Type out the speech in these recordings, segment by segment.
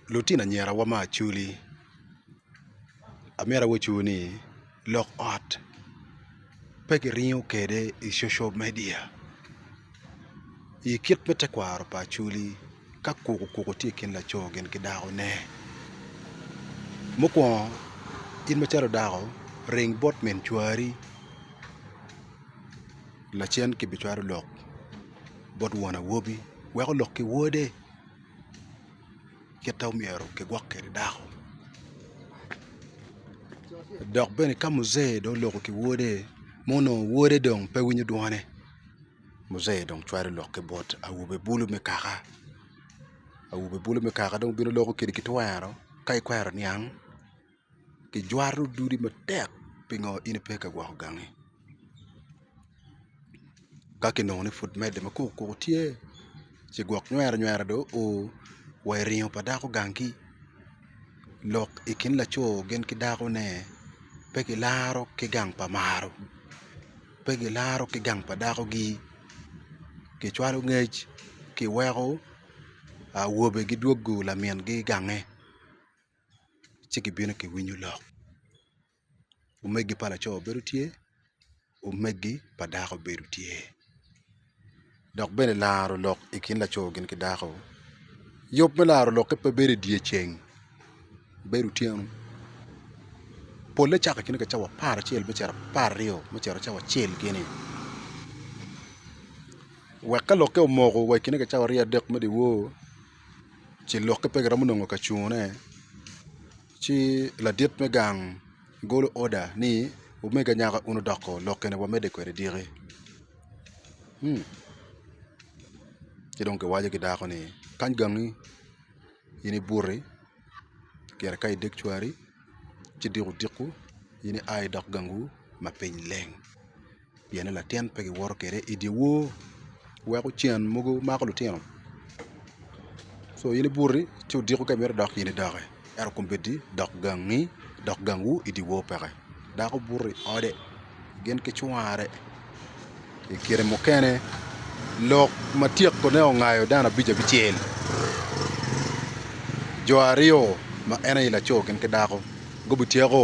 Lutino anyirawa me Acholi amito awacu ni lok ot pe kiringo kwede i social media i kit me tekwaro pa Acholi ka koko koko tye i kin laco gin ki dakone mukwongo in macalo dako ring bot min cwari lacen kibicwalo lok bot won awobi weko lok ki wode. kit ma myero kigwok kwede dako dok bene ka mujee dong oloko ki wode ma onongo wode dong pe winyo dwone mujee dong cwalo lok ki bot awobe bulu me kaka awobe bulu me kaka dong obino loko kwede kitwero ka ikwero niang. kijwato dudi matek pingo in ipe ka gwoko gangi ka kinongo ni pud medde ma koko koko tye ci gwok nywera nywera dong o wa i ringo pa dako gangi lok i kin laco gin ki dako ne pe gilaro ki gang pa maro pe gilaro ki gang pa dako gi kicwalo ngec kiweko awobe gidwogo lamin gi gange. ci gibino giwinyo lok omegi pa laco bedo tye omegi pa dako bedo tye dok bene laro lok i kin laco gin ki dako yub me laro lokke pe bedo i dye ceng bedo otyeno pole cako ki cawa apar acel me cito apar aryo me cito cawa acel gini wek ka lokke omoko wa i kine ki cawa aryo adek me dyewor ce lokke pe giromo nongo ka cunone ci ladit me gang golo oda ni omega nyako in odoko lokke ni wamede kwede dyeki ci dong kiwaco ki dako ni kany gangi in ibuti pire ka ideg cwari ci diko diko in ia idok gangu ma piny leng pienni latin pe giwoto kwede i dye wor weko cen mogo mako litino so in ibuti ci odiko ka imito dok in idoki ento kombeddi dok gangi dok gangwu i dye wor peke dako buto i ode gin ki cware i kine mukene lok ma tyekone ongayo dano abic abicel jo aryo ma en aye laco gin ki dako gubityeko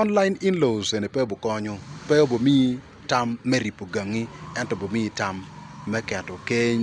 Online in-laws eni pe obikonyo, pe obimiyi tam me ribo gangi ento obimiyi tam me keto keny.